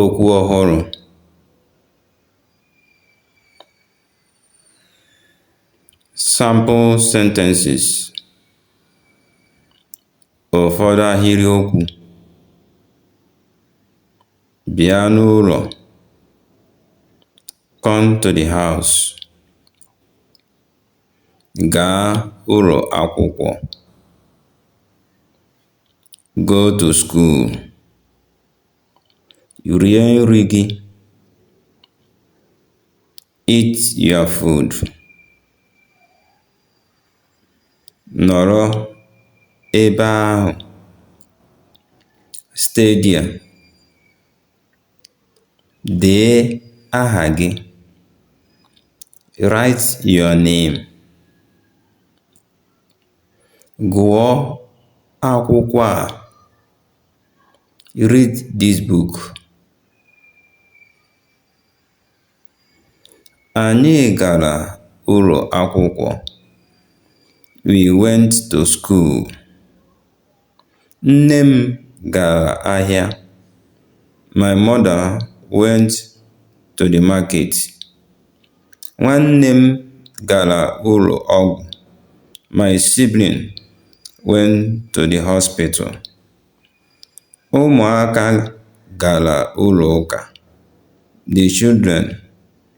Okwu ọhụrụ. Sample sentences. Ụfọdụ ahịrịokwu. Bịa n'ụlọ. Come to the house. Gaa ụlọ akwụkwọ. go to school rie nri gị eat your food nọrọ ebe ahụ stay there dee aha gị write your name Gụọ akwụkwọ a (Read this book) Anyị gara ụlọ akwụkwọ (We went to school) Nne m gara ahịa. My mother went to the market. Nwanne m gara ụlọ ọgwụ. My sibling went to the hospital. Ụmụaka gara ụlọ ụka. The children